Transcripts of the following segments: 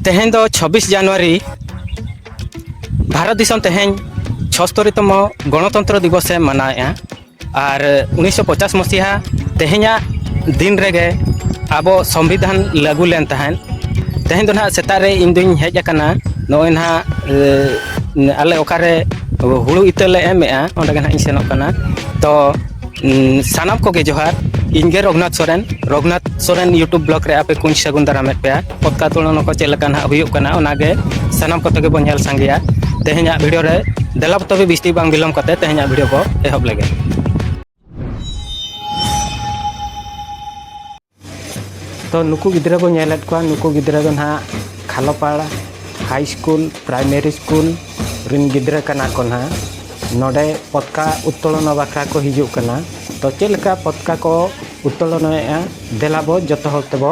ᱛᱮᱦᱮᱧ ᱫᱚ ᱪᱷᱟᱵᱵᱤᱥ ᱡᱟᱱᱩᱣᱟᱨᱤ ᱵᱷᱟᱨᱚᱛ ᱫᱤᱥᱚᱢ ᱛᱮᱦᱮᱧ ᱪᱷᱚᱥᱛᱚᱨᱤᱛᱚᱢ ᱜᱚᱱᱚᱛᱚᱱᱛᱨᱚ ᱫᱤᱵᱚᱥᱮ ᱢᱟᱱᱟᱣᱮᱫᱼᱟ ᱟᱨ ᱩᱱᱤᱥᱥᱚ ᱯᱚᱪᱟᱥ ᱢᱚᱥᱤᱦᱟ ᱛᱮᱦᱮᱧᱟᱜ ᱫᱤᱱ ᱨᱮᱜᱮ ᱟᱵᱚ ᱥᱚᱝᱵᱤᱫᱷᱟᱱ ᱞᱟᱹᱜᱩ ᱞᱮᱱ ᱛᱟᱦᱮᱸᱫ ᱛᱮᱦᱮᱧ ᱫᱚ ᱱᱟᱦᱟᱜ ᱥᱮᱛᱟᱜ ᱨᱮ ᱤᱧ ᱫᱩᱧ ᱦᱮᱡ ᱟᱠᱟᱱᱟ ᱱᱚᱜᱼᱚᱭ ᱱᱟᱦᱟᱜ ᱟᱞᱮ ᱚᱠᱟᱨᱮ ᱦᱩᱲᱩ ᱤᱛᱟᱹ ᱞᱮ ᱮᱢᱮᱫᱼᱟ ᱚᱸᱰᱮ ᱜᱮ ᱱᱟᱦᱟᱜ ᱤᱧ ᱥᱮᱱᱚᱜ ᱠᱟᱱᱟ ᱛᱚ ᱥᱟᱱᱟᱢ ᱠᱚᱜᱮ ᱡᱚᱦᱟᱨ ᱤᱧᱜᱮ ᱨᱚᱜᱷᱩᱱᱟᱛᱷ ᱥᱚᱨᱮᱱ ᱨᱚᱜᱷᱩᱱᱟᱛᱷ ᱥᱚᱨᱮᱱ ᱤᱭᱩᱴᱩᱵᱽ ᱵᱞᱚᱜᱽ ᱨᱮ ᱟᱯᱮ ᱠᱚᱧ ᱥᱟᱹᱜᱩᱱ ᱫᱟᱨᱟᱢᱮᱫ ᱯᱮᱭᱟ ᱯᱚᱛᱠᱟ ᱛᱩᱞᱚᱱᱟ ᱠᱚ ᱪᱮᱫ ᱞᱮᱠᱟ ᱱᱟᱦᱟᱜ ᱦᱩᱭᱩᱜ ᱠᱟᱱᱟ ᱚᱱᱟᱜᱮ ᱥᱟᱱᱟᱢ ᱠᱚᱛᱮ ᱜᱮᱵᱚᱱ ᱧᱮᱞ ᱥᱟᱸᱜᱮᱭᱟ ᱛᱮᱦᱮᱧᱟᱜ ᱵᱷᱤᱰᱤᱭᱳ ᱨᱮ ᱫᱮᱞᱟ ᱛᱚᱵᱮ ᱵᱤᱥᱛᱤ ᱵᱟᱝ ᱵᱤᱞᱚᱢ ᱠᱟᱛᱮ ᱛᱮᱦᱮᱧᱟᱜ ᱵᱷᱤᱰᱤᱭᱳ ᱵᱚ ᱮᱦᱚᱵ ᱞᱮᱜᱮ ᱛᱚ ᱱᱩᱠᱩ ᱜᱤᱫᱽᱨᱟᱹ ᱵᱚᱱ ᱧᱮᱞᱮᱫ ᱠᱚᱣᱟ ᱱᱩᱠᱩ ᱜᱤᱫᱽᱨᱟᱹ ᱫᱚ ᱱᱟᱦᱟᱜ ᱠᱷᱟᱞᱚᱯᱟᱲ ᱦᱟᱭ ᱥᱠᱩᱞ ᱯᱨᱟᱭᱢᱟᱨᱤ ᱥᱠᱩᱞ ᱨᱤᱱ ᱜᱤᱫᱽᱨᱟᱹ ᱠᱟᱱᱟ ᱠᱚ ᱱᱟᱦᱟᱜ ᱱᱚᱰᱮ ᱯᱚᱛᱠᱟ ᱩᱛᱛᱳᱞᱚᱱᱟ ᱵᱟᱠᱷᱨᱟ ᱠᱚ ᱦᱤᱡᱩᱜ ᱠᱟᱱᱟ ᱛᱚ ᱪᱮᱫ ᱞᱮᱠᱟ ᱯᱚᱛᱠᱟ ᱠᱚ ᱩᱛᱛᱳᱞᱚᱱᱟᱭᱮᱫᱼᱟ ᱫᱮᱞᱟ ᱵᱚ ᱡᱚᱛᱚ ᱦᱚᱲ ᱛᱮᱵᱚ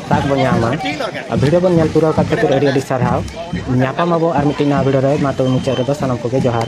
ᱛᱟᱠ ᱵᱚᱱ ᱧᱟᱢᱟ ᱟᱨ ᱵᱷᱤᱰᱤᱭᱳ ᱵᱚᱱ ᱧᱮᱞ ᱯᱩᱨᱟᱹᱣ ᱠᱟᱛᱮ ᱠᱷᱟᱹᱛᱤᱨ ᱟᱹᱰᱤ ᱟᱹᱰᱤ ᱥᱟᱨᱦᱟᱣ ᱧᱟᱯᱟᱢ ᱟᱵᱚ ᱟᱨ ᱢᱤᱫᱴᱤᱡ ᱱᱟᱣᱟ ᱵᱷᱤᱰᱤᱭᱳ ᱨᱮ ᱢᱟ ᱛᱚᱵᱮ ᱢᱩᱪᱟᱹᱫ ᱨᱮᱫᱚ ᱥᱟᱱᱟᱢ ᱠᱚᱜᱮ ᱡᱚᱦᱟᱨ